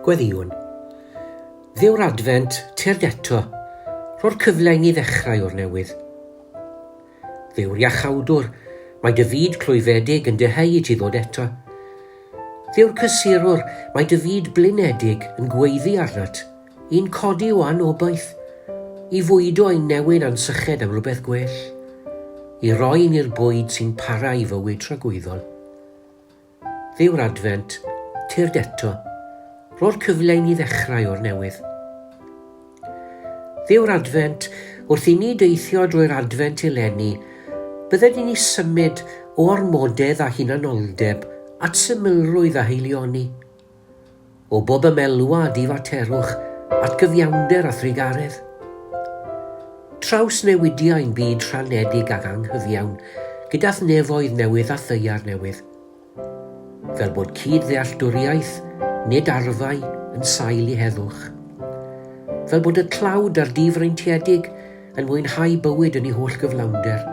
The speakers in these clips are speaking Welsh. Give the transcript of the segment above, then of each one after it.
Gweddïwn. Ddew'r Adfent tuag eto, rho'r cyfle i ni ddechrau o'r newydd. Ddew'r Iachawdwr, mae dy fyd clwyfedig yn dyheu i ti ddod eto. Ddew'r Cysurwr, mae dy fyd blinedig yn gweiddi arnat. Yn codi o anobaith, i fwydo ein newyn a'n syched am rywbeth gwell, i roi ni'r bwyd sy'n para i fywyd tragwyddol. Dduw'r Adfent, tyrd eto, ro'r cyfle i ni ddechrau o'r newydd. Dduw'r Adfent, wrth i ni deithio drwy'r Adfent eleni, bydde ni ni symud o ormodedd a hunanoldeb at symlrwydd a heilioni. O bob ymelwa a difaterwch, atgyfiawnder a thrugaredd. Trawsnewidia ein byd rhanedig ac anghyfiawn gydath nefoedd newydd a thaear newydd. Fel bod cyd-ddealltwriaeth, nid arfau, yn sail i heddwch. Fel bod y tlawd a'r difreintiedig yn mwynhau bywyd yn ei holl gyflawnder.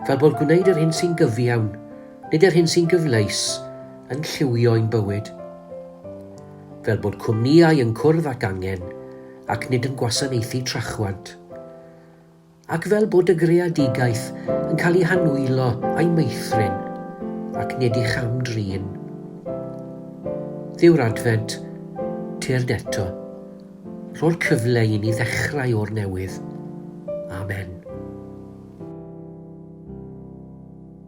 Fel bod gwneud yr hyn sy'n gyfiawn, nid yr hyn sy'n gyfleus yn lliwio ein bywyd. Fel bod cwmnïau yn cwrdd ac angen ac nid yn gwasanaethu trachwant. Ac fel bod y greadigaeth yn cael ei hanwylo a'i meithrin ac nid i cham-drin. Dduw'r Adfent, tyrd eto. Rho'r cyfle i ni ddechrau o'r newydd. Amen.